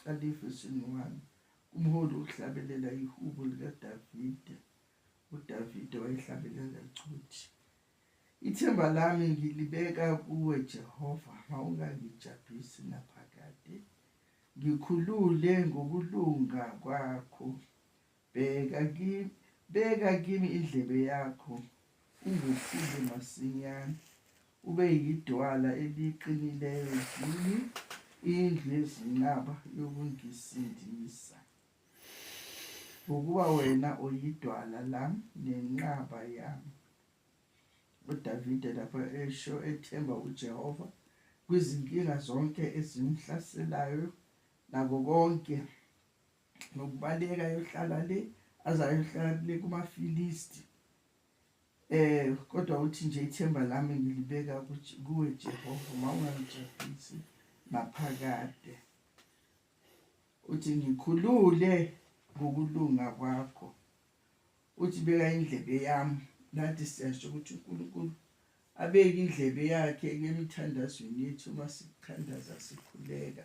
Califu isini 1 Umholi uhlabelela ihubo likaDavide. UDavide wayehlabelela ecuthi. Ithemba lami ngilibeka kuwe Jehova, mawungangijabhisi naphakade. Ngikhulule ngokulunga kwakho, Bheka kimi, beka kimi indlebe yakho, ungehlule masinyane. Ube yidwala eliqinileyo kimi, indlu yezinqaba yokungisindisa. Ngokuba wena uyidwala lami nenqaba yami. UDavide lapho esho ethemba uJehova kwizinkinga zonke ezimhlaselayo nako konke nokubaleka ayohlala le aze ayohlala kule kumafilisti eh kodwa uthi nje ithemba lami ngilibeka kuwe Jehova uma ungangijabhisi naphakade uthi ngikhulule ngokulunga kwakho uthi beka indlebe yami nathi siyasho ukuthi uNkulunkulu abeke indlebe yakhe emithandazweni yethu uma sithandaza sikhuleka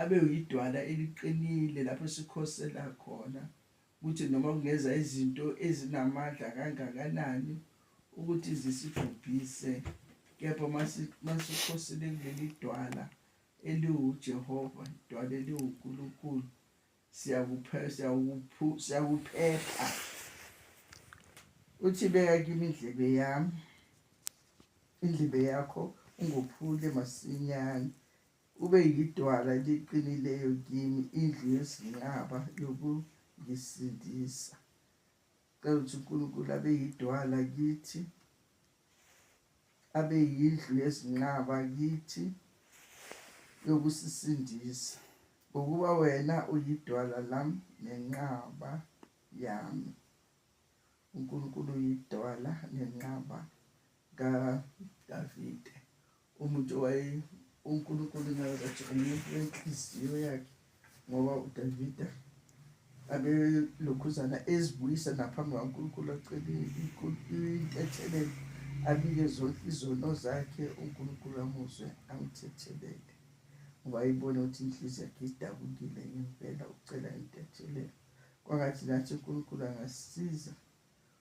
abe uyidwala eliqinile lapho sikhosela khona ukuthi noma kungeza izinto ezinamandla kangakanani ukuthi zisibhubhise kepha masikhosele kuleli dwala eliwuJehova idwala eliwuNkulunkulu siyakuphepha siyakuphepha uthi beka kimi indlebe yami indlebe yakho ungophule masinyane Ube yidwala eliqinileyo kimi, indlu yezinqaba yokungisindisa. Cela ukuthi uNkulunkulu abe yidwala kithi, abe yindlu yezinqaba kithi yokusisindisa, ngokuba wena uyidwala lami nenqaba yami. UNkulunkulu uyidwala nenqaba kaDavide. umuntu waye uNkulunkulu ngakathi umuntu wenhliziyo yakhe ngoba uDavida abelokhuzana ezibuyisa naphambi kwaNkulunkulu acele intethelelo abike zonke izono zakhe uNkulunkulu amuzwe amthethelele ngoba ayibone ukuthi inhliziyo yakhe idabukile ngempela ucela intethelelo kwangathi nathi uNkulunkulu angasiza